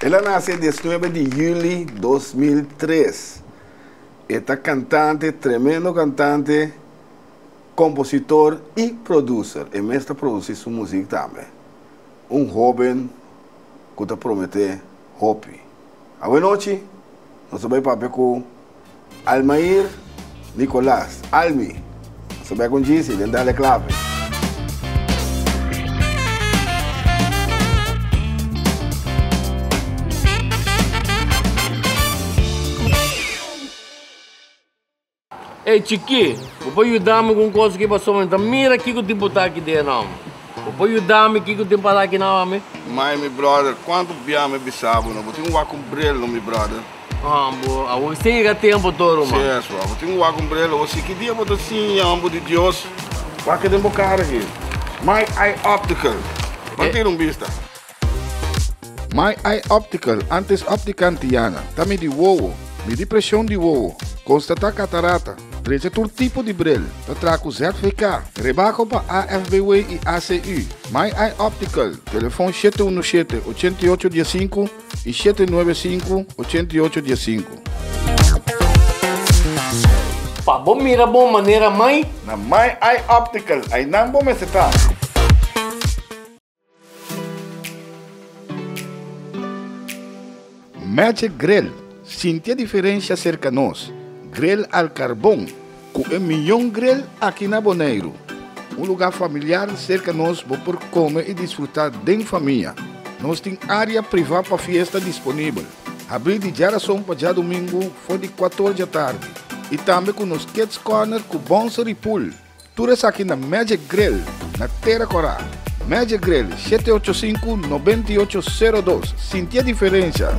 El a nace dies nuebe di juli dos mil tres. E ta cantante, tremendo cantante, compositor y producer. E mes ta produci su muziek tambe. Un hoben ku ta prometé hopi. Awe nochi nos a bai papia ku Almair Nicolas, Almi, nos a bai kon djisi den Dale Clave. Ey chikí, bo por yuda mi ku un kos aki pasobra mi ta mira kiko tipo ta aki den nòm. Bo por yuda mi kiko tin pasa aki na omi? Mai, mi bròder, kuantu bia mi bisa bo no? Bo tin ku wak ku un brel no, mi bròder? Haan, bo a wak sin yega tempu tur, ruman. Si es wak, bo tin ku wak ku un brel awor. Si ki dia bo ta siña homber di Dios, wak e den bo kara aki. Mai, ai optical. Ban tira un bista. My Eye Optical, antes Optica Antiana, ta midi wowo, midi presion di wowo, konstatá katarata, trecha tur tipo di bril, ta traha ku ZVK, rebako pa AFBW i ACU. My Eye Optical, telefon shete unu shete, ochenta i ocho dia sinku i shete nuebe sinku, ochenta i ocho dia sinku. Pa bo mira bon manera mai. Na My Eye Optical, ainan bo mester ta. Magic Grill, sinti e diferensha serka nos, grill al karbon ku e mion grill aki na Boneiru. Un lugá familiar serka nos bo por kome i disfrutá den famia. Nos tin área privá pa fiesta disponibel, habrí di djarason pa djadumingu for di kuator djatardi, i tambe ku nos Kids Corner ku Bonsery Pool. Tur esaki na Magic Grill na Tera Corá. Magic Grill, shete ocho sinku, nobenta i ocho, sero dos. Sintié diferensha!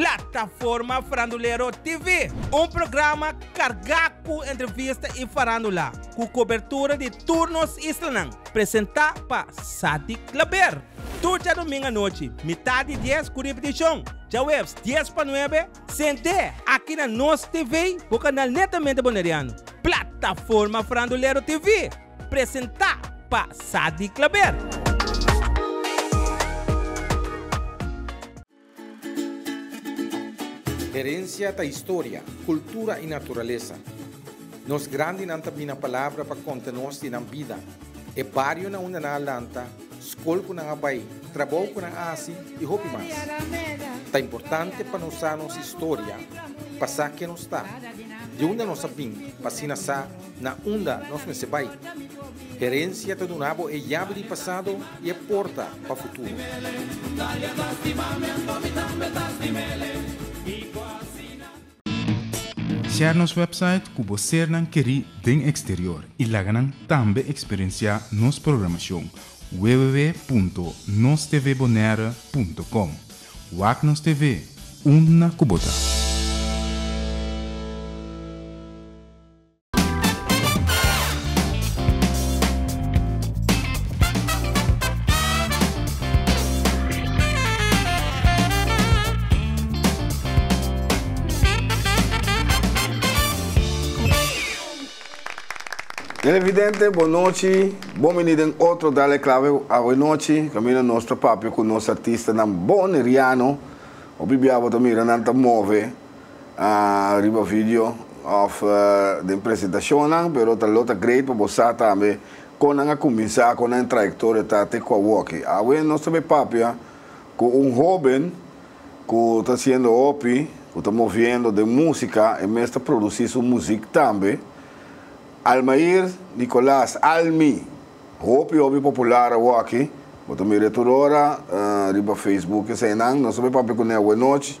Plataforma Farandulero TV, un programa carga cu entrevista y farandula, cu cobertura di tur nos islanan, presenta pa Sadik Klaber. Tur djadomingo anochi, mitad di dies cu ripeticion, djahueves dies pa nuebe, Sent'é aki na nos TV bo kanal netamente Boneriano, Plataforma Frandulero TV, presentá pa Sadi Klaber. Herencia ta historia, cultura y naturaleza. Nos grandinan ta bini na palabra pa conta nos di nan bida, e barionan unda nan a lanta, skol ku nan a bai, trabou ku nan a hasi i hopi mas. Ta importante pa nos sa nos historia pa sa ken nos ta, di unda nos a bin pa asina sa na unda nos mester bai. Herensia ta duna bo e yabi di pasado i e porta pa futuro. Share nos website ku bo sernan kerí den eksterior i laga nan tambe eksperensiá nos programashon www.nostvbonaire.com Wak nos TV, unda ku bo ta! Televidente, bon nochi. Bon bini den otro Dale Clave awe nochi. Camino nos ta papia cu nos artistanan boneriano. Hopi bia bo ta mira nan ta move. riba video of den presentacionnan pero ta lo ta great pa bo sa tambe con nan a cuminsa con nan trayectoria ta te cua wokey. Awe nos ta bay papia cu un hoben cu ta haciendo hopi cu ta moviendo den musica e mes ta produci su muziek tambe Almair Nicolas Almi hopi hopi popular awaki bo ta mira e tur ora riba Facebook esainan nos ta bay papia cu nan awe nochi.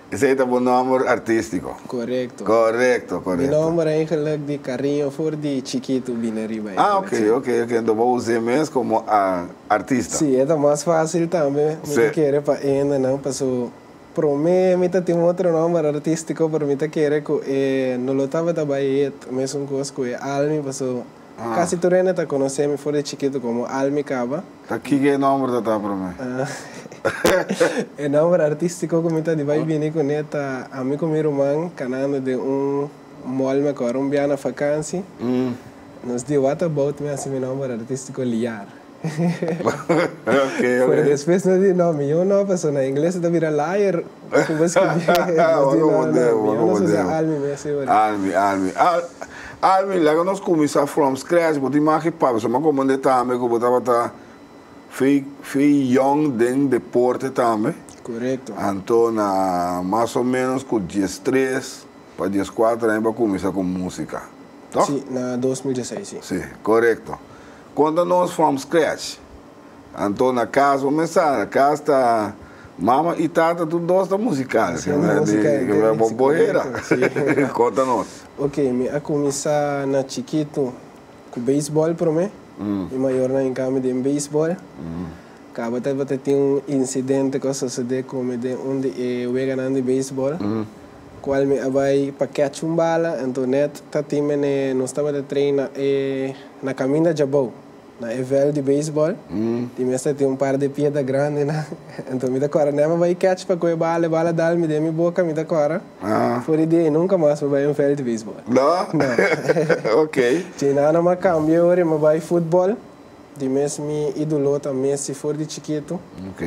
Esei ta bo nòmber artístiko? Korekto. Korekto, korekto. Mi nòmber eigenlik di kariño for di chikitu bini riba ei. Ah, ok, ok, ok. Anto bo us'é mes komo artista. Sí, e ta mas fásil tambe. Mi ta kere pa endenan paso promé mi ta tin otro nòmber artístiko, pero mi ta kere ku e no lo tabata bai hit, mesun kos ku e Almi, paso. Casi tur hende ta conoce mi for di chiquito como Almy Caba. Ta kico e nomber ta ta prome? E nomber artistico cu mi ta di bay bini cu ne ta a mi cu mi ruman canando den un mall mi acorda un bia na vakansi nos di What About Me asi mi nomber artistico Liar. Pero despues no di, no, mi yon no, pasobra na ingles ta bira liar. Cu bo scribi nos di, no, no, mi yon no su sa Almi mi asina bo di. Almi, Almi. Almi, laga nos cuminsa from scratch. Bo tin maki e papia. Su maki bo mende tambe cu bo tabata fei young den deporte tambe. Corecto. Anto na mas o menos cu dies tres pa dies cuater aña bo a cuminsa cu musica. Toh? Si, na dos mil diesseis, si. Si, corecto. Konta nos from scratch. Anto na kas bo mester sa, kas ta mama i tata tur dos ta musikal. Bo bo hera. Konta nos. Ok, mi a kuminsá na chikitu ku beisbòl promé i mayornan en kami den beisbòl. Tabata tin un insidente ku a sosodé ku mi den un di e weganan di beisbòl. Cual mi a bay pa catch un bala, ento net ta tin mene nos tabata traina e na caminda djabou, na e veld di baseball, tin mester tin un par de piedra grandenan, ento mi ta cora net pa bay catch pa coe bala, e bala dal mi den mi boca, mi ta cora, fori di ey nunca mas mi a bay un veld di baseball. No? No. Ok. Djeinan a ma cambia ora e ma bay football, di mes mi idolo ta Messi for di chikito. Ok.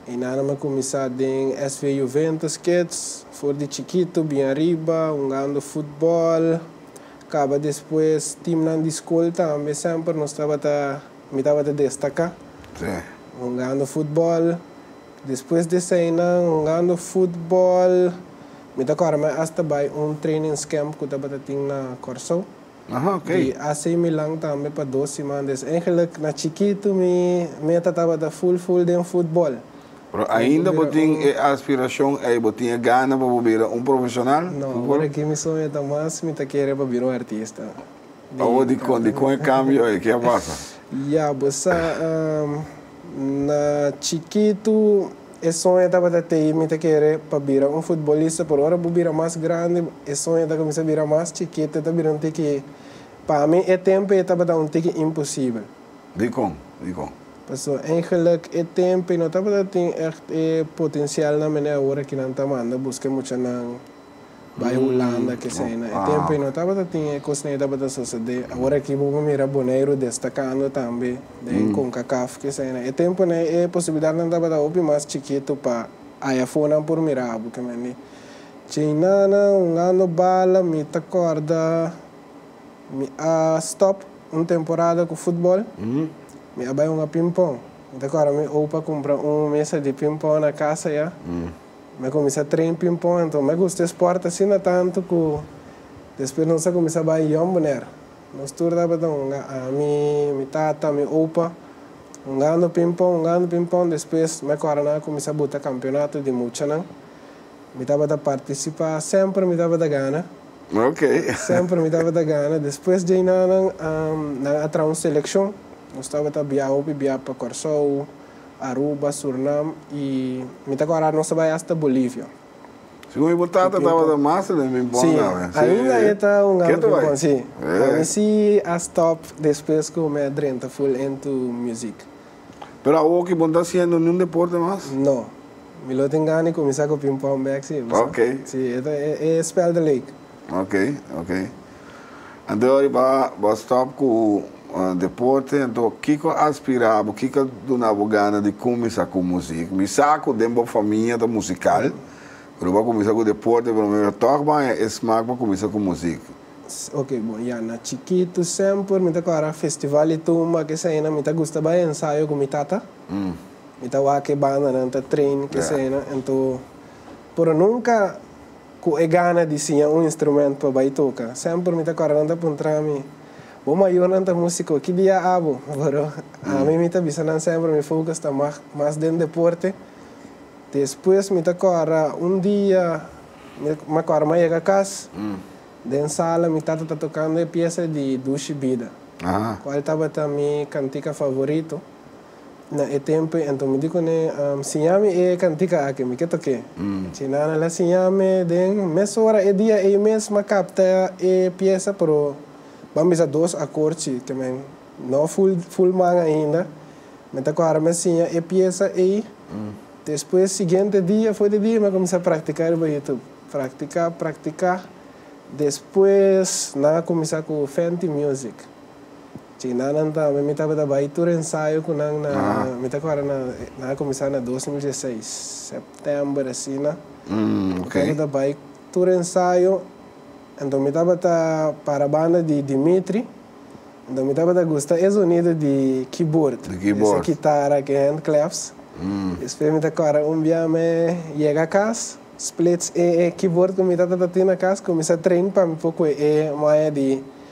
E nannan a kuminsá den SV Juventus Kids, for di chikitu bin ariba hungando futbòl, kaba despues timnan di skol tambe semper nos tabata, mi tabata destaká hungando futbòl. Despues di eseinan hungando futbòl, mi ta kòrda mi asta bai un trainingscamp ku tabata tin na Kòrsou. Di AC Milan tambe pa dos simana es. Eigenlijk na chikitu mi meta tabata ful ful den futbol. Pero ainda bo tin e aspiracion ei? Bo tin e gana pa bo bira un profesional? No, awor aki mi soña ta mas mi ta kere pa bira un artista. Awor dikon dikon e cambio ei? Ke a pasa? Ya, bo sa, na chikitu E soña tabata t'ei, mi ta kere pa bira un futbolista, pero ora bo bira mas grandi, e soña ta cuminsa bira mas chikit, e ta bira un tiki, pa mi e tempo ei tabata un tiki imposible. Dicon? Dicon? Paso eigenlijk e tempo ei no tabata tin echt e potencialnan mene awor aki nan ta manda busca e muchanan. Bai un landa kesey na e tempo y no tabata tin e cosnan y tabata sosode. Awor aki bo por mira Boneiru destacando tambe den Concacaf kesey. Na e tempo na e posibilidadnan tabata hopi mas chikito pa aya fonan por mira abo ke mende. Chin nana hungando bala mi ta corda mi a stop un temporada cu futbol. Mi a bai hunga ping pong. Mi ta corda mi opa cumpra un mesa di ping pong na casa ya. Mi a cuminsa train pingpong anto mi a gusta e sport asina tanto cu despues nos a cuminsa bay Jon Bonner. Nos tur tabata un ga, ami, mi tata, mi opa, un gando pingpong, un gando pingpong. Despues mi a cora nan a cuminsa buta campeonato di muchanan. Mi tabata participa, semper mi tabata gana, semper mi tabata gana. Despues djey nan nan a traha un seleccion, nos tabata bia hopi bia pa Corsou. Aruba, Surnam y mi ta kora nos a bay hasta Bolivia. Si con mi bo tata tabata mas den mi bon gawe. Si, ainda e ta un ame bien bon, si. Pa mi si a stop despues cu mi a drenta full into music. Pero awor ki bo no ta haciendo niun deporte mas? No. Mi lo tin gana di cuminsa cu ping pong bek si, bo sa. Ok. Si, e ta e spel de lake. Ok, ok. Anto riba bo stop cu deporte anto kico a inspira bo kico a duna bo gana di cuminsa cu music? Mi sa cu den bo famia ta musical pero bo a cuminsa cu deporte pero mi a tok bo e smaak pa cuminsa cu music. Ok bo ya na chikito semper mi ta cora festival di tumba keseynan mi ta gusta bay ensayo cu mi tata mi ta wak e bandanan ta train keseynan anto pero nunca. Cu e gana di siña un instrumento pa bay toca. Semper mi ta corda nan ta puntra mi, Bo mayornan ta musico, ki dia abo? Pero ami mi ta bisa nan semper mi focus ta mas den deporte. Despues mi ta corda un dia, mi ta corda mi a yega cas, den sala mi tata ta tocando e pieza di Dushi Bida, cual tabata mi cantica favorito. Na e tempu anto mi di kuné, Siña mi e kantika aki, mi ke tok'é. Chi Nana la siña mi den mes ora e dia ei mes, m'a kapta e piesa, pero ban bisa dos akor chi ke men no ful ful man ainda. Men ta kòrda m'a siña e piesa ei. Despues siguiente dia, for di dia, m'a kuminsá praktiká riba YouTube. Praktiká, praktiká, despues nan a kuminsá ku Fenty Music. Ci nanan tambe mi tabata bai tur ensayo cu nan na, mi ta acorda na, nan a cuminsa na dos mil dieseis, september asina, mi tabata bai tur ensayo, enton mi tabata para banda di Dimitri, enton mi tabata gusta e sonido di keyboard, ese kitara cu e hand claps, despues mi ta acorda un bia me yega cas, splits e keyboard cu mi tata ta tin na cas cuminsa train pa mi por cu e maya di.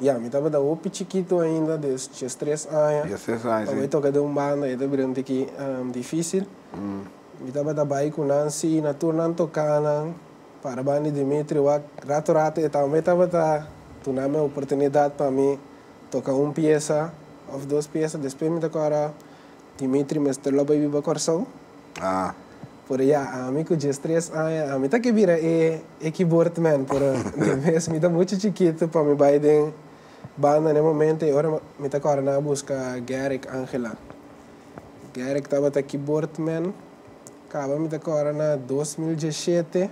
Ya, mi tabata hopi chikitu ainda, diestres aña. Diestres aña, si. Awor e toka den un banda, e ta bira un tiki difísil. Mi tabata bai ku nan, si na tur nan toká nan, para ban di Dimitri wak, rato rato e tambe tabata dunanmi e oportunidat pa mi toka un piesa òf dos piesa. Despues mi ta kòrda Dimitri mester lo bai biba Kòrsou. Por ya ami cu dies tres aña ami ta ke bira e e keyboard man pero de mes mi ta mucho chikitu pa mi bay den banda n'e momento e ora mi ta corda nan a busca Garrick Angela Garrick tabata keyboard man caba mi ta corda na dos mil diesete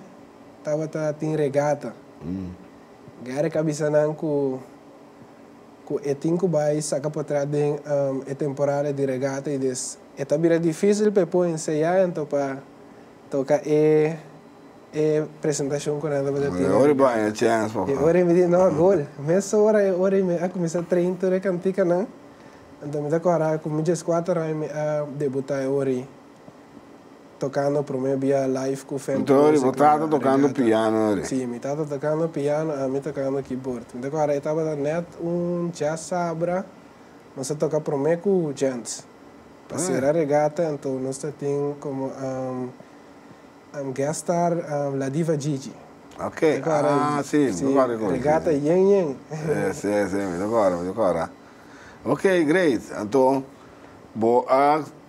tabata tin regata Garrick a bisa nan cu Cu e tin cu bay saca patras den e temporada di regata y des e ta bira dificil pa e pon ensaya ento pa toca e e presentacion cu nan tabata tin na regata. E ora y mi di no agol. Mesora e ora y mi a cuminsa train tur e canticanan. Anto mi ta cora cu mi djescuater aña mi a debuta e ora y. tokando prome bia live ku Fender Music. Anto riba tata tokando piano na ri? Si, mi tata tokando piano, ami tokando kibord. Mi ta kòrda e tabata nèt un jazz sabra, nos a toka prome ku Gents. Pa sera regata anto nos ta tin komo guest star La Diva Gigi. Ok, ah si, mi ta kòrda e kos. Regata yen yen. Yes, yes, mi ta kòrda, mi ta kòrda. Ok, great. Anto bo a.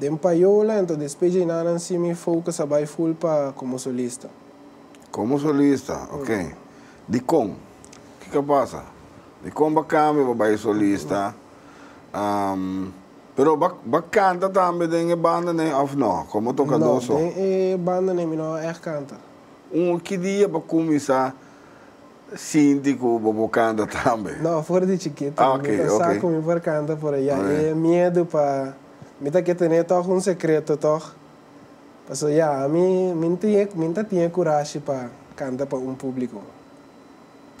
Den Payola, ento despe dje na nan si mi fokus a bai ful pa komo solista. Komo solista, ok. Dikon? Kiko a pasa? Dikon b'a kambia b'a bai solista? Pero b'a b'a kanta tambe den e bandanan òf nò? Komo tokadó so? No, den e bandanan mi no a ègt kanta. Un, ki dia b'a kuminsá? sinti ku bo por kanta tambe? No, for di chikito. Mi ta sa ku mi por kanta por ayá. E miedu pa mi ta ke tene tòg un sekreto tòg. Pasobra ya, ami mi ta tin e kurashi pa kanta pa un públiko.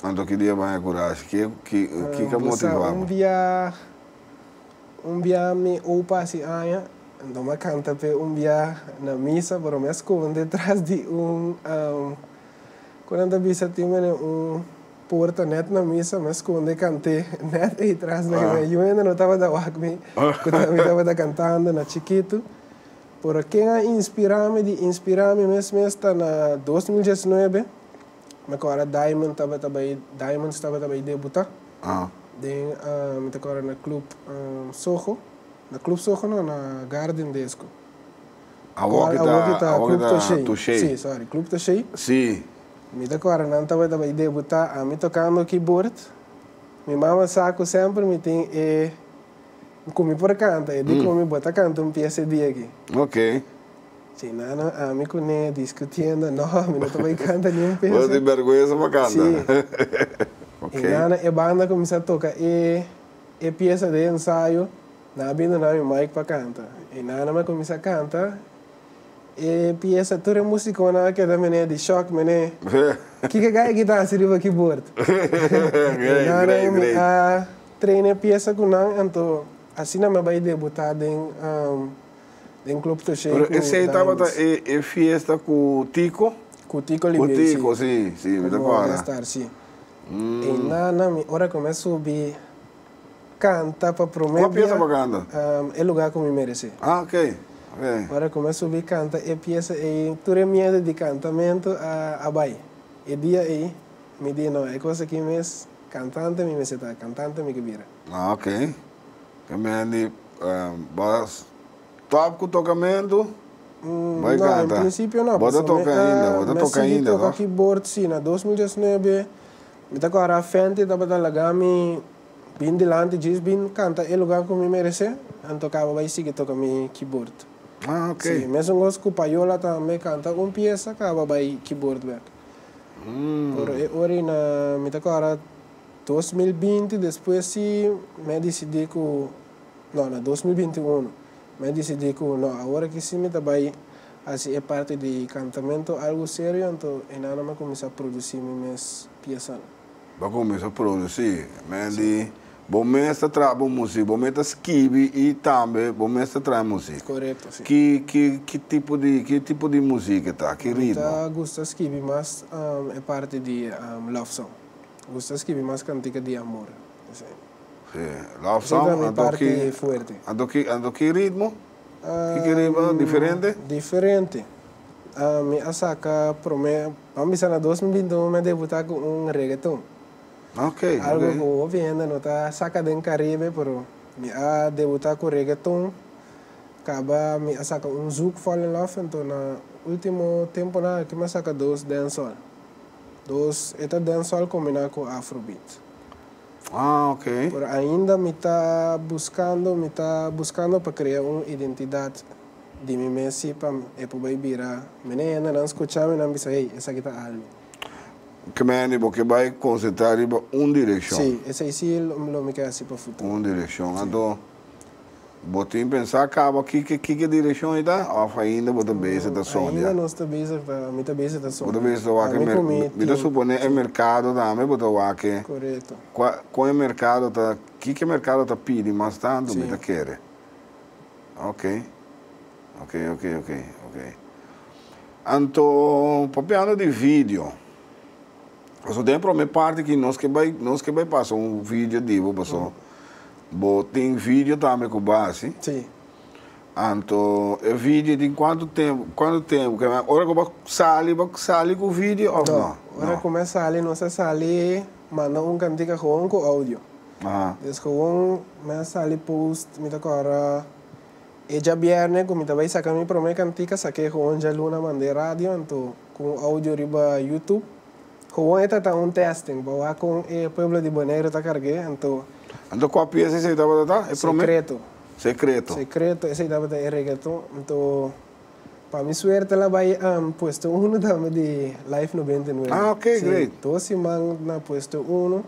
Anto ki di e baña kurashi? Ke ki ka motivá bo? Un dia, un bia mi opa hasi aña, anto mi a kanta p'e un bia na misa, pero mi a skonde tras di un. Cu nan ta bisa tin bene un puerta net na misa me sconde cant'e net ey tras na mi ayu hende no tabata wak mi cu ta mi tabata cantando na chikitu pero ken a inspira mi di inspira mi mes mes ta na dos mil diesnuebe me ko ora diamond tabata bay diamonds tabata bay debuta den me ta ko ora na club soho na club soho no na garden de esco. Awor ki ta club ta shei. Si. Mi ta kore nan tabata bai debuta ami tokando keyboard mi mama sa ku semper mi tin e ku mi por kanta e di ku mi bo ta kanta un pies e dia aki. Ok. Shei nano ami ku ne diskutiendo no mi no ta bai kanta ni un pies. Bo ta tin berguensa pa kanta. Si. Ok. I nano e banda kuminsá toka e piesa den ensayo. Nan a bini na mi mic pa canta y nan a cuminsa canta e pieza, tur e musiconan a keda mene di shock mene, kiko e gaya ki ta haci riba keyboard? y nan a mi a traina e pieza cu nan anto asina mi a bay debuta den den club Toshey cu Daniels. Pero esey tabata e fiesta cu Tico? Cu Tico Oliveira si, cu mi a estar si, y nan a mi ora cu mi a subi. canta pa prome bia. Cua piesa bo canta? Um, E Lugar Cu Mi Merece. Ah, ok. Okay. Ora cu me subi canta e piesa ey, tur e miedo di cantamento a, a bay. E dia ey, mi di, no, e cos aki mes, cantante mi mester ta, cantante mi ke bira. Ah, ok. Ke mendi, um, bo a stop cu tocamento, Um, bay no, canta? en principio no, Bo ta pasobra mi toca ainda, bo ta a, me toca sigui ainda, toca toh? keyboard, si, na dos mil diesnuebe. Mi ta kòrda Fenty tabata laga mi bin dilanti djis bin kanta e luga ku mi meresé, anto kaba bai sigui toka mi kibord. Si, mesengos ku Payola ta me kanta un piesa kaba bai kibord bek. Pero e orina mi ta kòrda dos mil binti despues si m'e disidí ku, no, na dos mil binti unu m'e disidí ku no, awor aki si mi ta bai. Hasi e parti di cantamentu algu serio anto enannan a cuminsa produci mi mes piesanan. Bo a cuminsa produci men di bo mes ta traha bo music, bo mes ta scibi y tambe bo mes ta traha e music. Correcto, si. Ki ki ki tipo di ki tipo di music e ta? Ki ritmo? Mi ta gusta scibi mas e parti di love song. Gusta scibi mas cantica di amor. Esey. Si, love song. Esey ta mi parti fuerte. Anto ki anto ki ritmo? Kiko riba diferente? Diferente. Mi a saca prome, vamos bisa na dos mil binti un mi a debuta cu un reggaeton. Ok, Algo cu ok. hopi hende no ta saca den Caribe, pero mi a debuta cu reggaeton. Caba mi a saca un zouk fall in love, enton na ultimo temponan aki mi a saca dos dancehall. Dos, e ta dancehall combina cu afrobeat. Ah, ok. Pero ainda mi ta buskando, mi ta buskando pa krea un identidat di mi mes si pa e por bai bira mene. Hendenan skucha mi nan bisa, hey, esaki ta Almi. Ke men di bo ke bai konsentrá riba un direkshon. Sí, esei sí lo mi ke hasi pa futuro. Un direkshon. Anto. Bo tin pensá caba kiko kiko direccion e ta of ainda bo ta bezig ta sonja? Ainda nos ta bezig ta mi ta bezig ta sonja. Bo ta bezig ta wak e mer mi ta suponé e mercado tambe bo ta wak e Correcto. cua con e mercado ta kiko e mercado ta pidi mas tanto mi ta kere ok ok ok ok ok anto papiando di video. Paso den e prome parti aki nos ke bai nos ke bai pasa un video di bo paso bo tin video tambe ku bo hasi. Si. Anto e video tin kuantu tempu kuantu tempu ke ora ku bo sali bo sali ku video of no? Ora ku mi a sali nos a sali manda un kantika gewoon ku audio. Aha. Des gewoon mi a sali post mi ta kore ora e diabierne ku mi ta bai saka mi prome kantika sake gewoon dialuna mand'e radio anto. Cu un audio riba YouTube. Gewoon e ta ta un testing pa wak con e pueblo di Boneiru ta carge, anto. Anto cua pieza esey tabata ta? E prome. Secreto. Secreto. Secreto esey tabata e reggaeton, anto pa mi suerte la bay puesto uno tambe di Life 99. Ah ok great. Si, dos siman na puesto uno.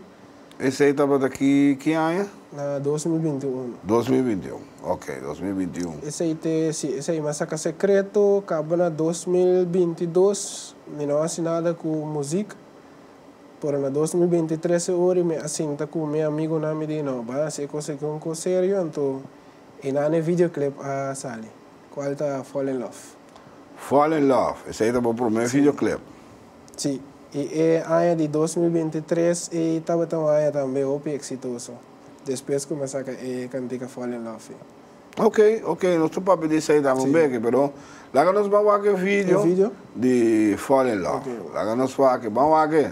Esey tabata ki ki aña? Na dos mil binti un. Dos mil binti un, ok, dos mil binti un. Esey te, si, esey mester ka sekreto, kaba na dos mil binti dos, mi no a hasi nada ku muzik, pero na dos mil binti trese ori mi a sinta ku mi amigunan mi di no, ban hasi e kos aki un kos serio, anto einan e videoclip a sali, kual ta Fall in Love. Fall in Love, esey ta bo promé videoclip. Sí, i e aña di dos mil binti tres ei tabata un aña tambe hopi eksitoso, despues ku mi saka e kantika Fall in Love i. Ok, ok, nos ta papia di esei tambe un beke, pero laga nos ban wak e video di Fall in Love, laga nos wak e, ban wak e.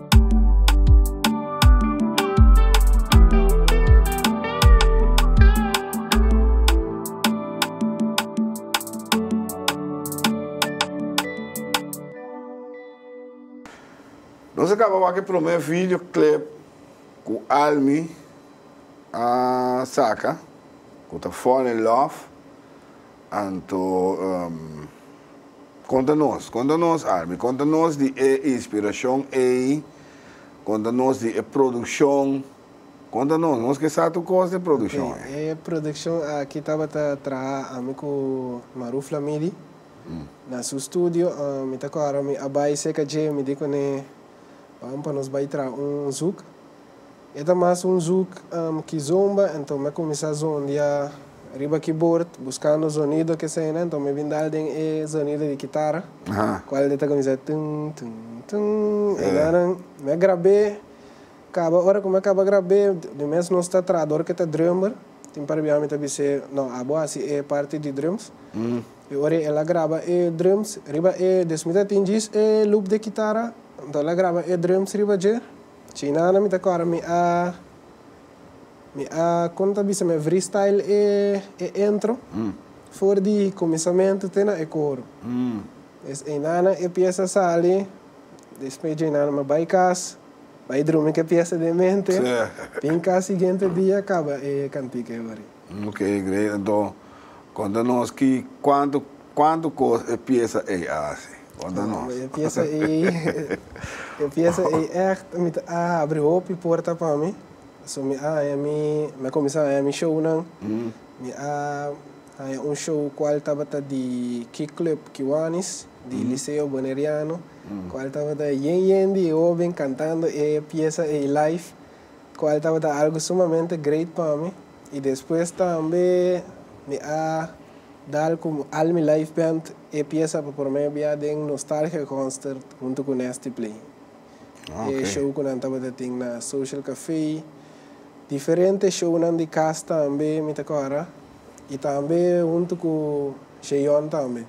Nos a kaba wak e promé videoclip ku Almi a saka, ku ta Fall in Love. Anto, konta nos, konta nos, Armi, konta nos di e inspirashon ei, konta nos di e produkshon, konta nos, nos ke sa tur kos di e produkshon ei. E produkshon aki tabata traha ami ku Maru Flamidi na su studio, mi ta kohe aromi a bai seka dje, mi di kuné, Bam pa nos bai traha un zuk, E ta mas un zoek ki zomba, enton m'a kuminsá zondia riba kibord buskando zonido kesena, enton mi bin dal den e zonido di kitara kual ta kuminsá tun tun tun e dananan m'a grab'é, kaba ora ku m'a kaba grab'é di un mes nos ta traha dor ku e ta drummer, tin par bia mi ta bis'é no abo hasi e parti di drums, i ora el a graba e drums riba e des mi ta tin djis e loop di kitara, enton el a graba e drums riba dje. Chinana mi ta kòrda mi a mi a kon ta bisa mi a vristyle e e intro for di kuminsamentu te na e koro des einana e piesa sali despues djeinana mi a bai kas bai drumi ku e piesa den mente bin kas siguiente dia kaba e kantika e horin. Lo ke e greadó konta nos ki kuantu kuantu kos e piesa ei a hasi? Konta nos. Bueno, e piesa ei e piesa ei ègt mi ta a habri hopi puerta pa mi. So mi a haña mi mi a kuminsá haña mi shownan. Mi a haña un show kual tabata di Kick Club Kiwanis di Liceo Boneriano kual tabata yen yen di e hoben kantando e piesa ei live. cual tabata algo sumamente great pa mi y despues tambe mi a dal cu All Mi Life Band e pieza pa prome bia den Nostalgia Concert hunto cu Nasty Play, e show cu nan tabata tin na Social Cafe, diferente shownan di cas tambe mi ta coge y tambe hunto cu Sheyon tambe.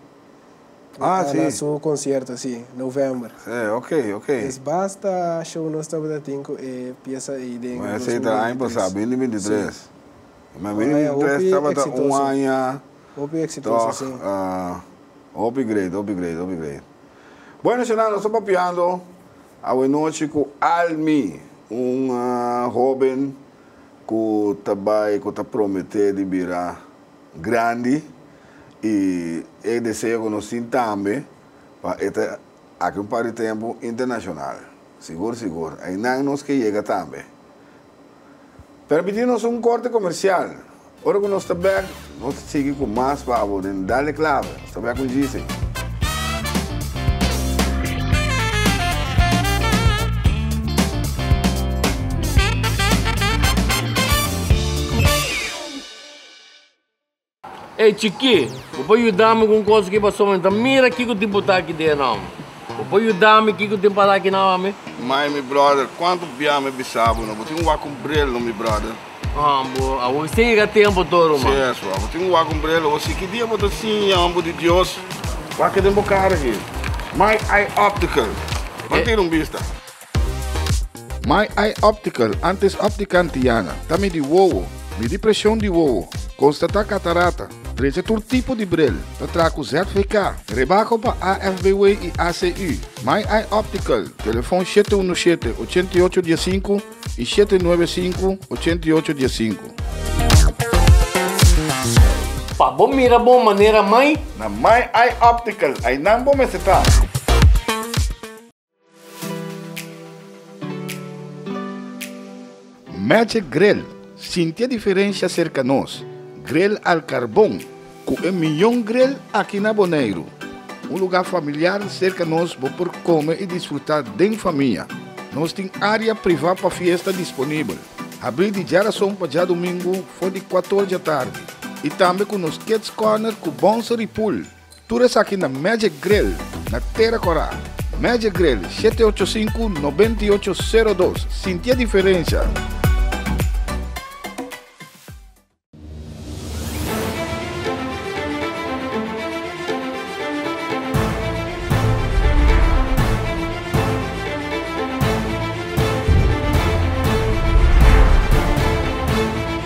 Ah, si. Na su concierto, si, november. Sí, ok, ok. Es basta show nos tabata tin cu e pieza ey den dos mil bintitres. Ma esey ta aña pasa, bini bintitres. Sí. Ma bini bintitres tabata un aña. Hopi exitoso, si. Tog, hopi great, hopi great, hopi great. Bueno, Shana, nos ta papiando awe nochi cu Almi, un hoben cu ta bay, cu ta promete di bira grandi. I e deseo ku nos tin tambe pa e ta aki un par di tempu internashonal. Sigur sigur, einan nos ke yega tambe. Permití nos un korte komersial. Ora ku nos ta bèk, nos ta sigui ku mas pa abo den Dale Clave. Nos ta bèk un GC. Ey chikí, bo por yuda mi ku un kos aki paso mi ta mira kiko tin por ta aki den e nom. Bo por yuda mi kiko tin para aki na homi? Mai, mi bròder, kuantu bia mi bisa bo, no bo tin wak un brel no, mi bròder? Haan, bo a wak sin yega tempu tur, ruman. Si eso, a bo tin wak un brel hosi? Ki dia bo ta siña homber di Dios? Wak e den bo kara aki. Mai, ai optical. Ban tira un bista. My Eye Optical, antes Optica Antiana, ta midi wowo, midi presion di wowo, konstatá katarata, trecha tur tipo di bril, ta traha ku ZVK, rebako pa AFBW i ACU. My Eye Optical, telefon shete unu shete, ochenta i ocho diesinku i shete nuebe sinku, ochenta i ocho diesinku. Pa bo mira bon manera mai. Na My Eye Optical, ainan bo mester ta. Magic Grill, sinti e diferensha serka nos, grill al karbon ku e mion grill aki na Boneiru. Un lugá familiar serka nos bo por kome i disfrutá den famia. Nos tin área privá pa fiesta disponibel, habrí di djarason pa djadumingu for di kuator djatardi, i tambe ku nos Kids Corner ku Bonsery Pool. Tur esaki na Magic Grill na Tera Cora. Magic Grill, shete ocho sinku, nobenta i ocho, sero dos. Sintié diferensha!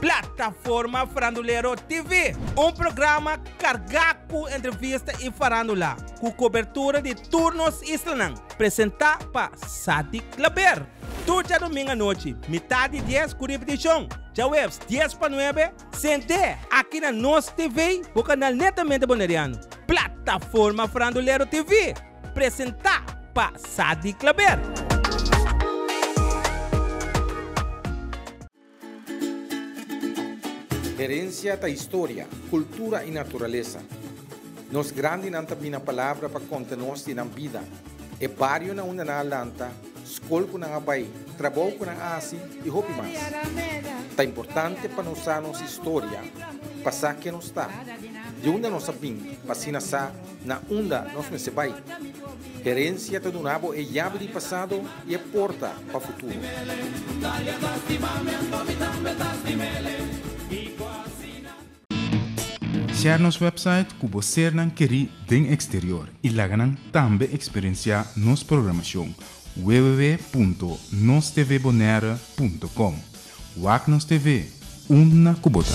Plataforma Farandulero TV, un programa carga cu entrevista y farandula, cu cobertura di tur nos islanan, presenta pa Sadik Klaber. Tur djadoming anochi, mitad di dies cu repeticion djahueves dies pa nuebe, CNT. Aki na nos TV, bo canal netamente Boneriano. Plataforma Farandulero TV. Presentá pa Sadie Clabert. Herencia ta historia, cultura y naturaleza. Nos grandinan ta bina palabra pa conta nos di nan bida, e barionan unda nan a lanta, scol cu nan a bay, trabou cu nan a haci y hopi mas. Ta importante pa nos sa nos historia, pa sa ken nos ta, di unda nos a bin pa asina sa Na unda nos mester bai? Herensia ta duna bo e yabi di pasado i e porta pa futuro. Share nos website cu bo sernan keri den exterior y laga nan tambe experiencia nos programacion www.nostvbonaire.com Wak Nos TV, unda cu bo ta!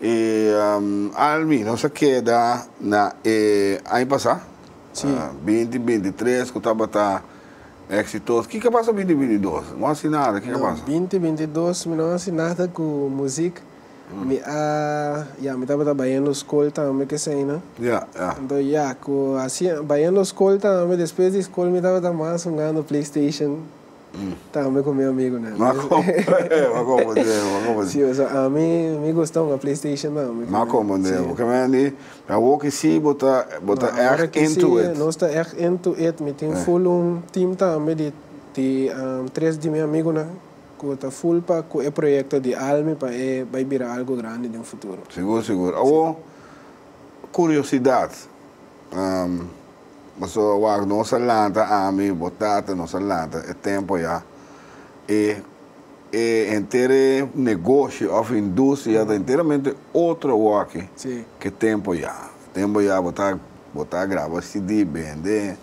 E Army nos a keda na e aña pasa, binti binti tres ku tabata eksitoso. Kiko a pasa binti binti dos? No hasi nada, kiko a pasa? No, binti binti dos mi no hasi nada ku musik. Mi a, ya, mi tabata bayendo skol tambe kesaina. Ya, ya. Anto ya, ku hasi, bayendo skol tambe, despues di skol mi tabata mas hungando playstation. Tambe ku mi amigunan. M'a komprende'e, m'a komprende'e, m'a komprende'e. Sí, so a mi, mi gusta un a Playstation tambe. M'a komprende'e, porque mi a di, awo ki sí bo ta, bo ta èg into it. Nos ta èg into it. Mi tin full un team tambe di, di tres di mi amigunan ku ta full pa ku e proyekto di Almi pa e bai bira algu grandi den futuro. Sigur, sigur. Awo, kuriosidat. Paso wak nos a lanta ami i bo tata nos a lanta e tempo ya e e entere negoshi of industria ta enteramente otro wak ke tempo ya. Tempo ya bo ta bo ta graba CD bende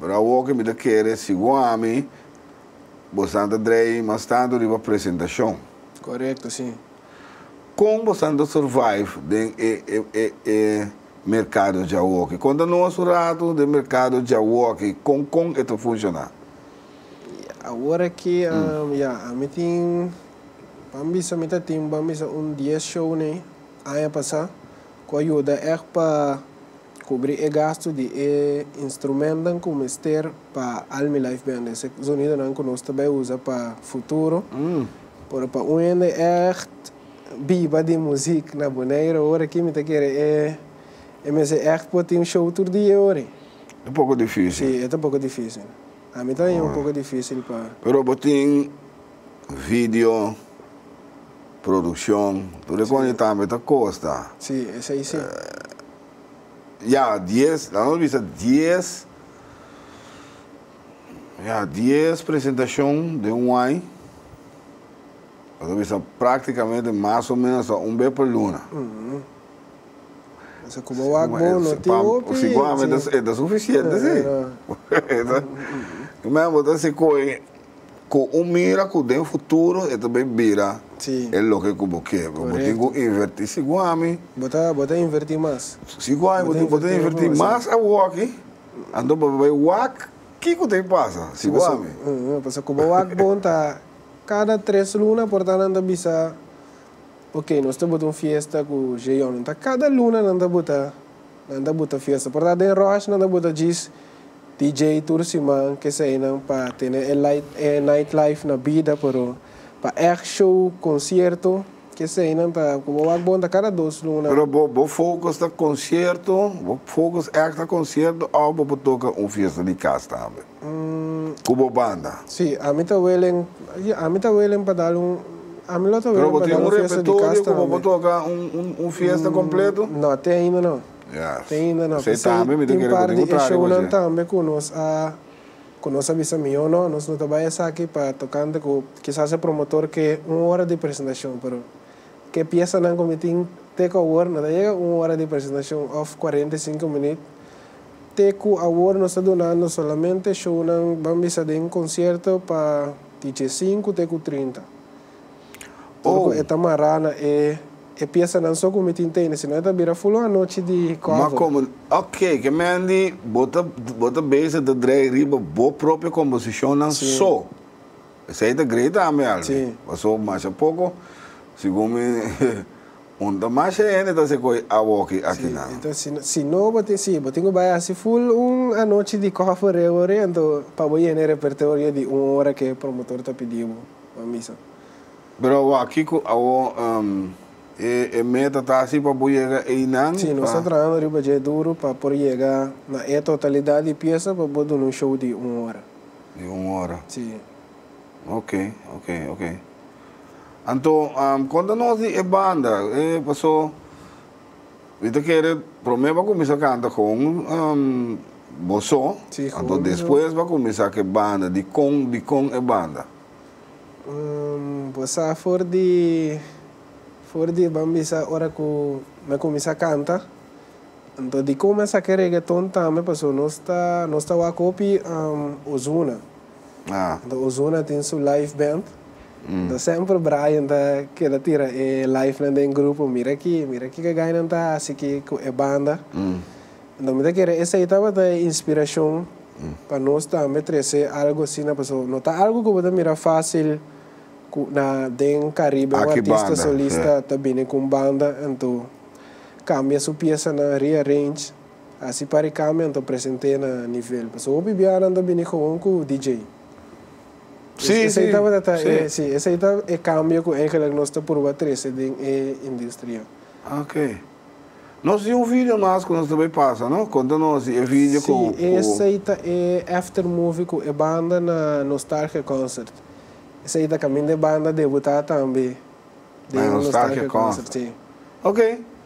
pero awoke mi ta kere si bo ami bo san ta dreiy mas tanto riba presentashon. Korekto si. Kon bo san ta survive den e e e e. Merkado djawoki. Konta nos un ratu den merkado djawoki. Kon kon e ta funshoná? Ya, awor aki, ya, ami tin, ban bisa mi ta tin, ban bisa un dies shownan aña pasá ku a yuda ègt pa kubrí e gastu di e instrumentnan ku mester pa Almi Live Band, esei zonidonan ku nos ta bai usa pa futuro, pero pa un hende ègt. biba di muzik na Boneiro ora aki mi ta kere e mester echt por tin show tur dia e ora. Ta poco dificil. Si e ta poco dificil. A mi tambe un poco dificil pa. Pero bo tin video, produccion, tur e cosa y tambe ta costa. Si esai si. Ya dies, la nos bisa dies. Ya dies presentacion den un ai, lo ta bisa practicamente mas o menos hasta un bes per luna. Pasa cu bo wak bon, no tin hopi. Si guam e ta, e ta suficiente si. Ey mea bo ta hasi coe cu un mira cu den futuro e ta bay bira e loke cu bo ke. Bo tin cu inverti. Si guam. Bo ta, bo ta inverti mas. Si guam bo ta inverti mas awo aki. Anto bo bai wak, kiko ta bin pasa si bo a mi? Pasobra ku bo wak bon ta kada tres luna, por ta nan ta bisa, Oke, nos ta buta un fiesta ku Jeyonen. Ta kada luna nan ta buta, nan ta buta fiesta. Por ta den Ròsh nan ta buta djis DJ tur siman, keseinan pa tene e nightlife na bida, pero pa ègt show, konsierto. Keseynan ta ku bo wak bon ta kada dos luna. Pero bo bo focus ta concierto, bo focus echt ta concierto of bo por toca un fiesta di cas tambe cu bo banda? Si, ami ta welen, ya, ami ta welen pa dal un, ami lo ta welen pa dal un fiesta di cas tambe. Pero bo tin un repertorio cu bo por toca un un un fiesta completo? No, te ainda no. Ya, esey tambe mi ta kere cu tin un trago ashe. Tin par di e shownan tambe cu nos a. Cu nos a bisa mijo no, nos no ta bay esaki pa tocante cu kisas e promotor ke un ora di presentacion, pero ke e piesanan cu mi tin te cu awor no ta yega un ora di presentacion of cuarenta y cinco minut, te cu awor nos ta dunando solamente shownan ban bisa den concierto pa di dje sinku te cu trinta. Ora cu e ta mará na e e piesanan so cu mi tin tene, sino e ta bira ful un anochi di Ma cover. como, ok, ke men di bo ta bo ta bezig ta drei riba bo propio composicionnan Sí. so. Esei ta grei tambe Alvin, Sí. paso masha poco, segun mi un ta masha hende ta hasi e coy awoki Sí, akinan. enton si no si no bo tin si bo tin cu bai hasi ful un anochi di cover reo ori, enton pa bo yena e repertorio di un ora ke promotor ta pidi bo. pa misa. Pero wak kiko awo e meta ta si pa bo yega einan? Si, nos ta trahando riba dje duro pa por yega na e totalidad di piesa pa bo duna un show di un ora. Di un ora. Si. Ok, ok, ok. Anto konta nos di e banda, paso. Mi ta kere prome bo kuminsá kanta kon bo so, anto despues bo a kuminsá ku e banda. Dikon dikon e banda? Bo sa for di for di ban bisa ora ku mi a kuminsá kanta. Anto dikon mi a saka e regeton tambe paso nos ta nos ta wak hopi Ozuna. Enta Ozuna tin su live band. Enta semper Brian ta keda tira e livenan den grupo, mira aki, mira kiko e gainan ta hasi ki ku e banda. Enta mi ta kere esei tabata e inspirashon pa nos tambe trese algu asina, paso no ta algu ku bo ta mira fasil ku na den Karibe un artista solista ta bini ku un banda, entu kambia su piesanan, rearrange. Así pare cambio nan ta presente na nivel pasobra hopi bia nan ta bini gewoon cu DJ. Sí, sí, sí. Sí, esey ta e cambio cu eigenlijk nos ta purba trece den e industria. Ok. Nos tin un video mas cu nos ta bay pasa, no? Conta nos di e video cu, cu. Sí, esey ta e after movie cu e banda na Nostalgia Concert. Esey ta caminda e banda debuta tambe den Nostalgia Concert, sí. Ok.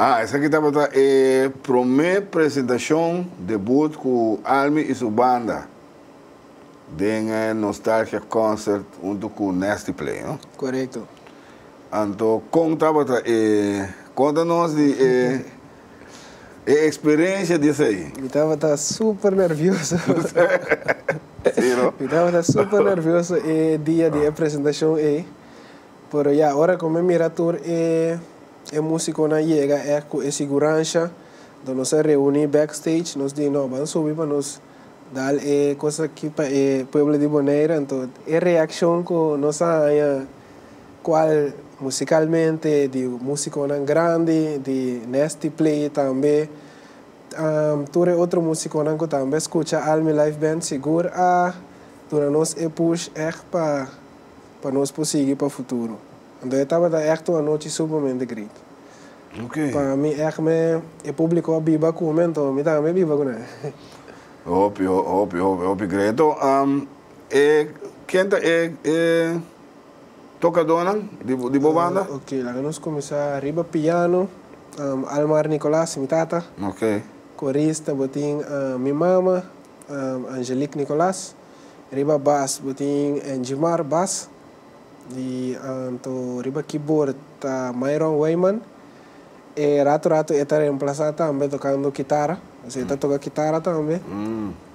Ah, esaki tabata e prome presentacion, debut, cu Almi y su banda den e Nostalgia Concert hunto cu Nasty Play, no? Corecto. Anto, con tabata e, conta nos di e. E experiencia di esei. Mi tabata super nervioso. Si no? Mi tabata super nervioso e dia di e presentacion ei. Pero ya, ora cu mi mira tur e e musiconan yega ect cu e siguransa, dor nos a reuni backstage, nos di no, ban subi pa nos. Dal e cos aki pa e pueblo di Bonaire anto e reaccion cu nos a haña cual musicalmente di musiconan grandi di Nasty Play tambe tur e otro musiconan cu tambe a scucha Almi Live Band sigur a duna nos e push echt pa pa nos por sigui pa futuro. Anto e tabata echt un anochi supamente great. Pa mi echt me e publico a biba cu me anto mi tambe biba cu nan. Hopi hopi hopi great. To e ken ta e e tocadonan di bo banda? Ok laga nos cuminsa riba piano Almar Nicolas mi tata. Corista bo tin mi mama Angelique Nicolas. Riba bas bo tin Angie Mar Bas di Anto riba keyboard ta Myron Weyman e ratu ratu e ta reemplasa tambe tokando kitara pasobra e ta toka kitara tambe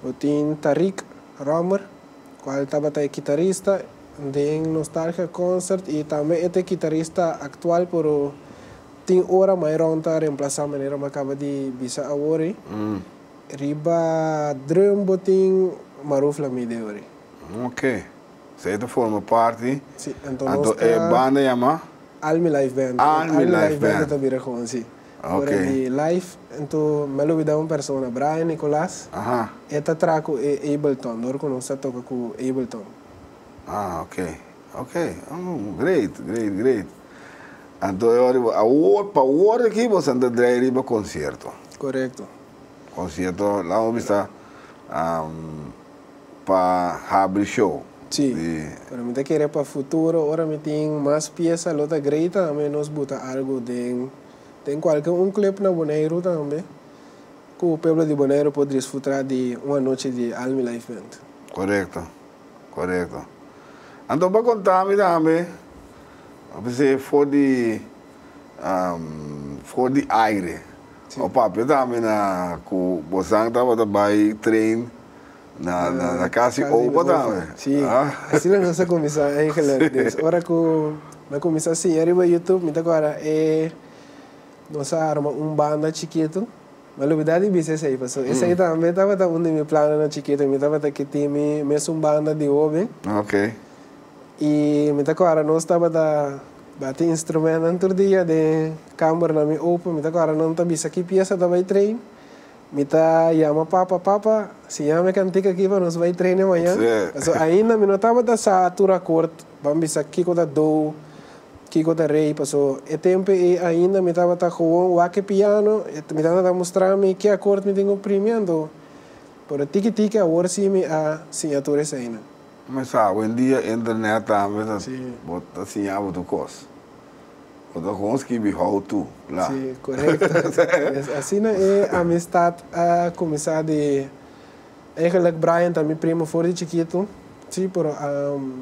bo tin Tariq Romer kual tabata e kitarista den Nostalgia Concert i tambe e ta e kitarista aktual pero tin ora Myron ta reemplasa manera mi a kaba di bisa awor ei Riba drum bo tin Maruf la mide ori. Ok. So e ta forma parti. Si, anto nos ta. Anto e banda yama. Al Mi Life Band. Al Mi Life Band. Al Mi Life Band ta bira con, si. Ok. Ora di life, anto mi a lubida un persona, Brian Nicolas. Aha. E ta traha cu e Ableton, dor cu nos ta toca cu Ableton. Ah, ok. Ok. Oh, great, great, great. Anto e ora awor pa awor aki bo sa ta drai riba concierto. Correcto. Concierto lamo bisa pa habri show. Si, pero mi ta kere pa futuro ora mi tin mas piesa lo ta grei tambe nos buta algo den den cualke un club na Boneiru tambe cu pueblo di Boneiru por drisfutra di un anochi di Almi Live Band. Correcto. Korekto. Anto pa konta mi tambe, a pes'é for di for di aire. Bo papia tambe na ku bosan tabata bai train na na kasi opa tambe. Si, asina nos a kuminsá Angela. Des ora ku mi a kuminsá siña riba Youtube mi ta kòrda e nos a arma un banda chikitu. M'a lubidá di bisa esei, pasobra esei tambe tabata un di mi plananan chikito. Mi tabata ke tin mi mes un banda di hoben. I mi ta kòrda nos tabata bati instrumentnan tur dia den kambernan mi open. Mi ta kòrda nan ta bisa ki piesa ta bai train. Mi ta yama papa, Papa, siña mi e kantik akí pa nos bai train e mañan. Pasobra ainda mi no tabata sa tur akort. Ban bisa kiko ta dou, kiko ta rey, paso e tempu ei ainda mi tabata gewoon wak-e piano, mi tata ta mustra mi ke akort mi tin ku primi anto, pero tiki tiki awor si mi a siña tur esaina. Mi sa bo en dia internet tambe ta bo ta siña bo tur kos, bo ta gewoon skibi how to la. Si, korekto, asina e amistat a kuminsá di Eigenlijk Brian ta mi primo for di chikitu, si, pero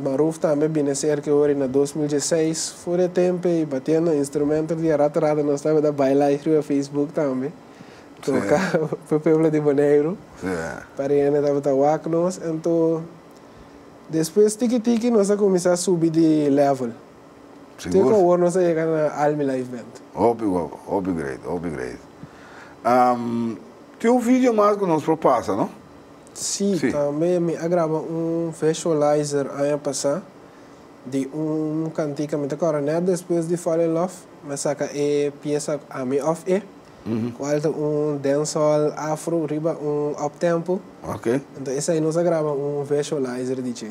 Maruf tambe bini a serka e ora na dos mil dieseis, for di e tempe i batiendo instrumento di a rata rata nos tabata baila ai riba Facebook tambe, toka pa e pueblo di Boneiru, paria hende tabata wak nos, anto despues tiki tiki nos a kuminsá subi di level. Sigur? Tin awor nos a yega na Almi Life Band. Hopi guapo, hopi great, hopi great. Um, tin un video mas cu nos por pasa, no? Si, Si. tambe mi a graba un visualizer aña pasá di un cantica mi ta cora net despues di Fall in Love. Mi a saca e pieza Ami of E, cual ta un dancehall afro riba un uptempo. Ok. Enton esai nos a graba un visualizer di dje.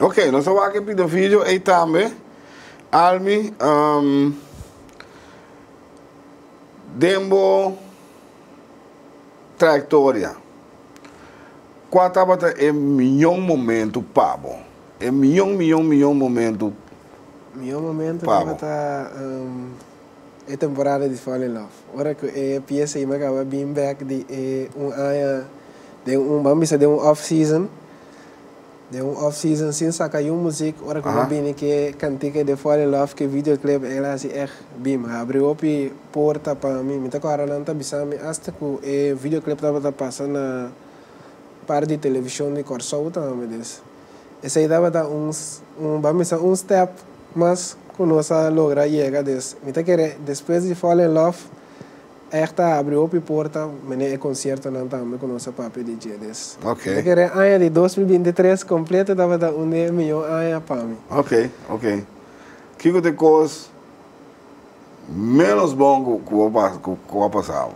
Ok, nos ta wak e Pita Video ey tambe. Almi, um, den bo trayectoria, kua tabata e miyon momentu pa bo? E miyon, miyon, miyon momentu Mihó momentu pa bo. E temporada di Fall in Love. Ora ku e piesa Ima Kaba bin bek di e un aña den un, bam bisa den un off season, den un off season sin saka yun muzik. Ora ku bo a bini ku e kantika di Fall in Love ku e video clip eyel a hasi eht bim, a habri hopi porta pa mi. Mi ta kòrda nan ta bisa mi asta ku e video clip tabata pasa na un par di televishon di Kòrsou tambe des. Esei tabata un un pa misa un step mas cu nos a logra yega des. Mi ta kere despues di Fall in Love echt a habri hopi porta mene e conciertonan tambe cu nos a papia di dje des. Mi ta kere aña di dos mil binti tres completo tabata un di e mijo aña pa mi. Ok, ok. Kico ta e cos Ménos bon ku a pasa abo.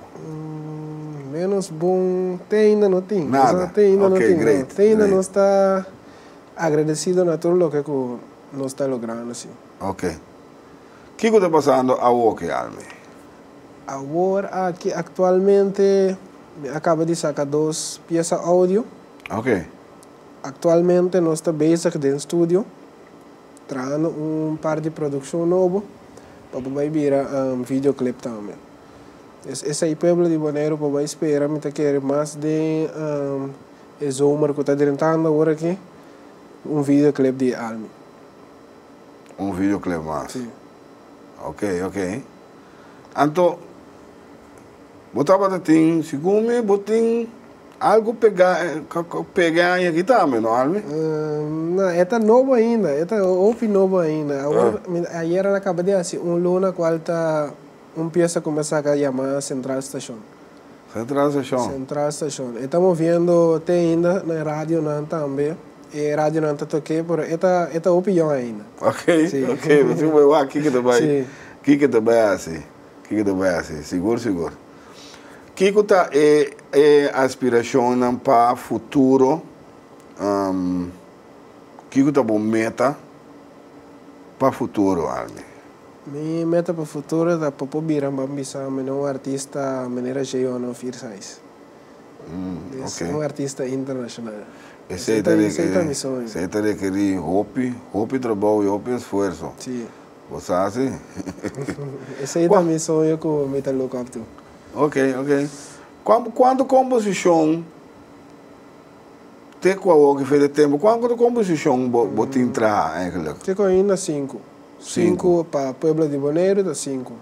Ménos bon te ainda no tin. Nada. Te ainda no tin. Ok, greit. Te ainda nos ta agradesido na tur loke ku nos ta logrando si. Ok. Kiko ta pasando awor ki Army? Awor aki aktualmente mi a kaba di saka dos piesa oudio. Ok. Aktualmente nos ta bezig den studio. Trahando un par di produccion nobo pa bo bay bira video clip tambe. Es esai pueblo di Bonaire pa bay spera mi ta kere mas den e zomer cu ta drentando awor aki un video clip di e almi. Un video clip mas. Si. Ok ok. Anto bo tabata tin, segun mi bo tin Algu pega pega aña aki tambe no Alvy? Na, e ta nobo ainda, e ta hopi nobo ainda. Awor, mi ayer al a kaba di hasi un luna ku al ta un piesa ku mi a saka yama Central Station. Central Station. Central Station. E ta moviendo te ainda na e radionan tambe. E radionan ta toke, pero e ta e ta hopi yòn ainda. Ok, ok, mi si ku bo e wak kiko ta bai kiko ta bai hasi. Kiko ta bai hasi? Sigur sigur. Kiko ta e e aspiracionnan pa futuro? Um kiko ta bo meta pa futuro, Almi? Mi meta pa futuro ta pa por bira ban bisa mene un artista manera Jeyone of Irsais. Di es un artista internacional. Esey ta rekerí hopi hopi trabou y hopi esfuerso. Bo sa si? Esei ta mi soño ku mi ta look up to. Ok, ok. Kuan, kuantu komposishon te ku awoki fe de tempu, kuantu komposishon bo, bo tin traha eigenlijk? Te ku ainda sinku. Sinku. Sinku pa Pueblo di Boneiru ta sinku.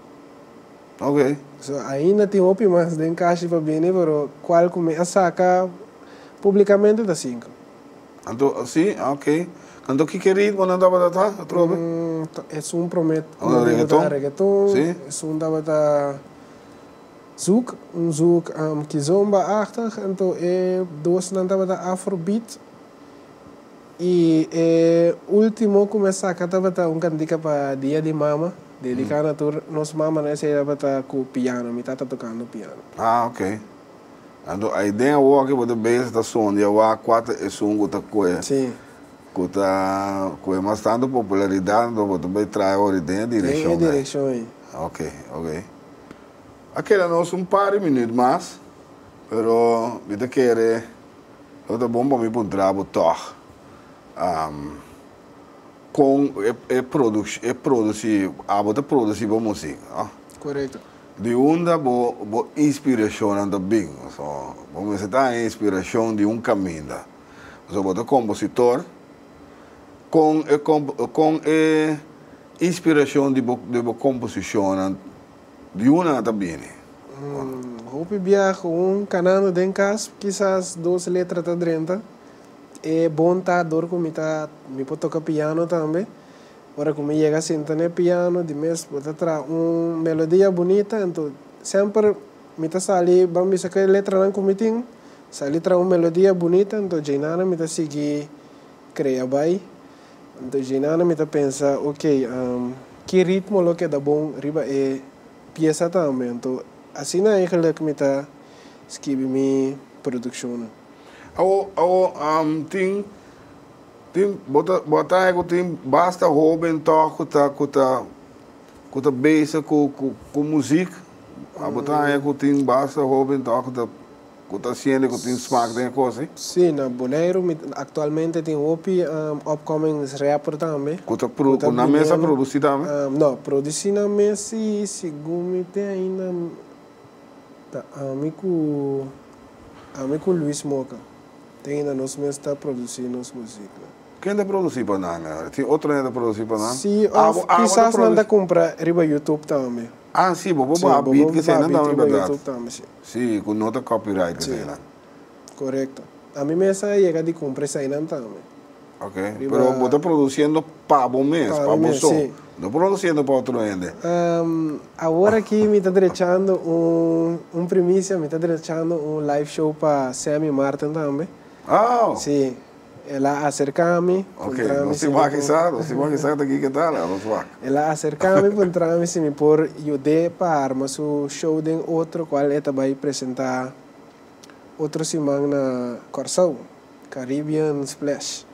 Ok. So, ainda tin hopi mas den kashi pa bini, pero kual ku mi a saka publikamente ta sinku. Anto, si, ok. Kantu ki ke ritmo nan tabata ta, atrobe? Esun promet un momento Reggaeton? tabata reggaeton, Si. esun tabata zouk, un zouk kizomba-achtig, anto e dosnan tabata afrobeat y e ultimo cu me saca tabata un cantica pa Dia di Mama, dedicando tur nos mamanan, esey tabata cu piano, mi tata tocando piano. Ah, ok. Anto ai den awo ke bo ta beza ta son di awa kuater esun ku ta kue ku ta kue mas tanto popularidad anto bo ta bai traha ahori den e direkshon den e direkshon ei. Ok ok a keda nos un par di minüt mas pero mi ta kere lo ta bon pa mi puntra bo tog kon e produc e produci abo ta produci bo musik no? Korekto. Di unda bo bo inspirashonnan ta bin? So, bo mester ta haña inspirashon di un kaminda. So, bo ta kompositor, kon e komp, kon e inspirashon di bo di bo komposishonnan, di unda nan ta bini? Hopi biaha ku un kanando den kas, kisas dos letra ta drenta. E bon ta dor ku mi ta, mi por toka piano tambe. Ora ku mi yega sinta n'e piano di mes bo ta traha un melodia bunita ento semper mi ta sali ban bisa ku e letranan ku mi tin sali traha un melodia bunita ento Djaynana mi ta sigui krea bai ento Djaynana mi ta pensa okay ki ritmo lo keda bon riba e piesa tambe ento asina eigenlik mi ta skibi mi produkshonnan. Awo awo tin. Tin, bo ta, bo a traha cu tin basta hoben to cu ta, cu ta, cu ta bezig cu, cu, cu muziek. A bo traha cu tin basta hoben to cu ta, cu ta haciendo y cu tin smaak den e cos ei? Sí, na Boneiru mi actualmente tin hopi upcoming rapper tambe. Cu ta produ, cu nan mes a produci tambe? No, produci nan mes si, segun mi tin ainda ta ami cu, ami cu Luis Moca. Te hinda nos mes ta produci nos musika. Ken ta produci pa nan ahora? Tin otro hende ta produci pa nan? Sí, of kisas nan ta cumpra riba YouTube tambe. Ah, sí, bobo baha beat keseinan tambe, berdad? Sí, bobo baha beat riba YouTube tambe, sí. Sí, cu no ta copyright keseinan. Sí, correcto. Ami mes a yega di cumpra eseinan tambe. Ok, pero bo ta produciendo pa bo mes, pa bo so, no produciendo pa otro hende. Awor aki mi ta drechando un primicia, mi ta drechando un live show pa Sam y Martin tambe. Oh! Si, el a acerca mi, puntra mi si mi por. Ok, nos tin wak kisa, nos tin wak kisa ta aki keta la, nos wak. El a acerca mi, puntra mi si mi por yud'é pa arma su show den otro cual e ta bay presenta otro siman na Corsou. Caribbean Splash.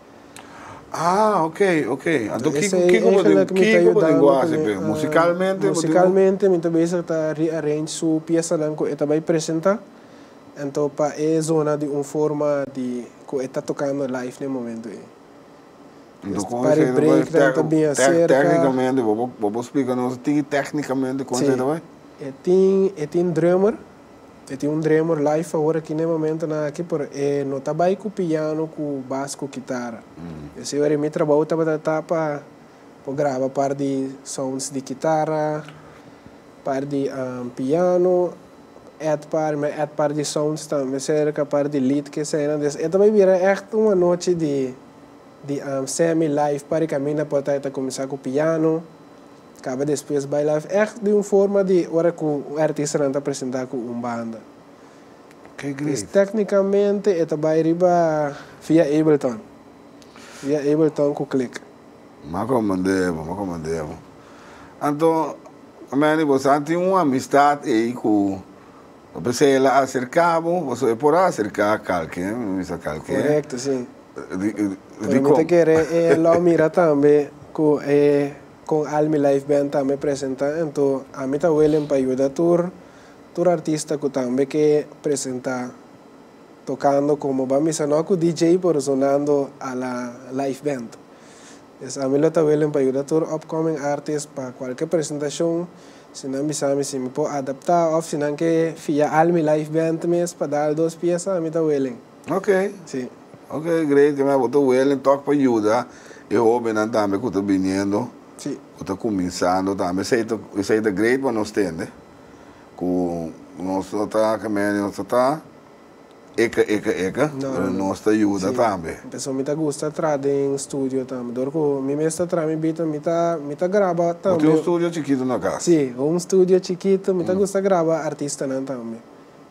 Ah ok ok anto kiko kiko bo den kiko bo den go haci pe musicalmente bo tin bo. Musicalmente mi ta bezig ta rearrange su piesanan cu e ta bay presenta anto pa e zona di un forma di cu e ta tocando live na e momento ey. Anto con esey ta bay tec tecnicamente bobo bobo splica nos tin tecnicamente con esey ta bay? E tin e tin drummer. E tin un dremor life awor aki na e momentonan aki, pero e no ta bai ku piano, ku bas, ku kitara. E siñor di mi trabou tabata ta pa por graba par di sounds di kitara, par di piano, et par, mi a et par di sounds tambe serka, par di lead ku eseinan. Des e ta bai bira ègt un anochi di di semi life pa ricaminda, por ta e ta kuminsá ku piano. Caba despues bay live echt di un forma di ora cu un artistanan ta presenta cu un banda. Cris tecnicamente e ta bay riba via Ableton. Via Ableton cu Click. Ma como debo, ma como debo. Anto Manny bo sa tin un amistad ey cu bo pensa el a acerca bo, bo so e por a acerca calke, mi bisa calke. Correcto si. Di, di, di Pero mi ta como. kere e lo mira tambe cu e Con al mi live band tambe presenta ento ami ta willing pa yuda tur tur artista cu tambe ke presenta tocando como ba misa no cu DJ pero zonando a la live band es ami lo ta willing pa yuda tur upcoming artist pa cualke presentacion si nan bisami si mi por adapta of si nan ke fia al mi live band mes pa dal dos piesa ami ta willing. Ok, si. Ok, great, ke mester bo ta willing tok pa yuda e hobennan tambe ku ta biniendo, Si. ku ta kuminsando tambe. Esei ta, esei ta great pa nos tende ku nos no ta, ke men, nos no ta eka, eka, eka, No, no, pero no. nos ta yuda Si. tambe. Pasobra mi ta gusta tra den studio tambe. Dor ku mi mes ta tra mi bita, mi ta, mi ta graba Bo tin tambe. un studio chikitu na kas? Si, un studio chikitu. Mi ta gusta graba artistanan tambe.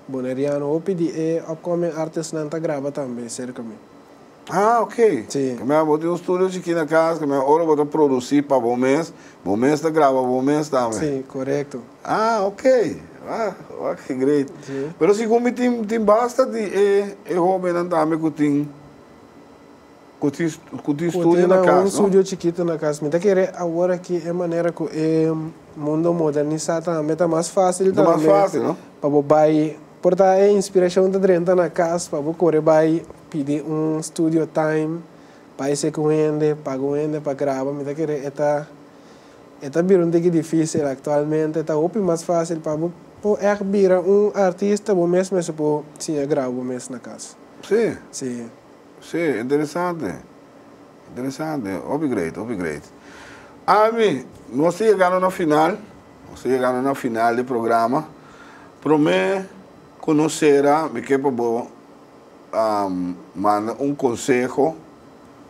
Boneriano, hopi di e upcoming artist nan ta graba tambe cerca mi. Ah ok. Sí. Caminda bo tin un studio chikí na cas, caminda ora bo ta producí pa bo mes, bo mes ta graba bo mes tambe. Sí, corecto. Ah ok. Ah, wak ke great. Sí. Pero segun mi tin tin basta di e e hobennan tambe cu tin. Ku tin studio na kas no. Ku tin un studio chikitu na kas. Mi ta kere awor aki e manera ku e mundo modernisá ta hambe ta mas fásil ta hambe pa bo bai. Por ta e inspirashon ta drenta na kas pa bo kore bai pidi un studio time, bai hesé ku un hende, paga un hende pa graba. Mi ta kere e ta e ta bira un tiki difísil aktualmente. Ta hopi mas fásil pa bo por ègt bira un artista bo mes mester por siña graba bo mes na kas. Sí. Sí, interesante, interesante, hopi great, hopi great. Ami, nos ta yegando na final, nos ta yegando na final di programa. Promé ku nos sera, mi ke pa bo um, manda un konseho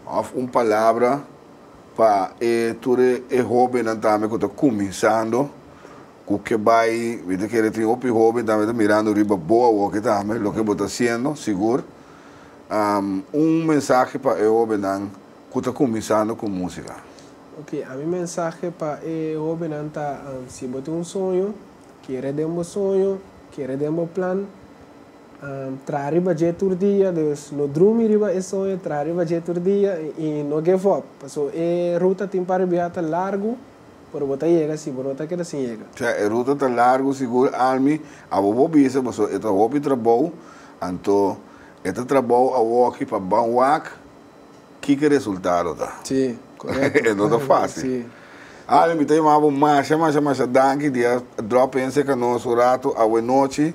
òf un palabra pa e tur e, e hóbennan tambe ku ta kuminsando, ku ke bai, mi ta kere tin hopi hóben tambe ta mirando riba bo awor ki tambe, loke bo ta hasiendo, sigur. un mensahe pa e hobennan ku ta kuminsando ku musika? Ok, a mi mensahe pa e hobennan ta, si bo tin un soño, kere den bo soño, kere den bo plan, traha riba dje tur dia, dus no drumi riba e soño, traha riba dje tur dia i no give up, paso e ruta tin pa ribiá ta largu. Pero bo ta yega si bo no ta keda sin yega. Sea e ruta ta largu sigur Almi abo bo bisa paso e ta hopi trabou anto e ta trabou awoki pa ban wak kiko resultado ta. Si, korekto. E no ta fasil. Si. Almi ta yama bo masha masha masha danki dia drop in seka nos un ratu awe nochi.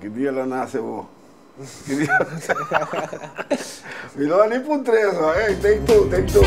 Ki dia lo nase bo? Mi lo a di pun tres no ey, take two, take two.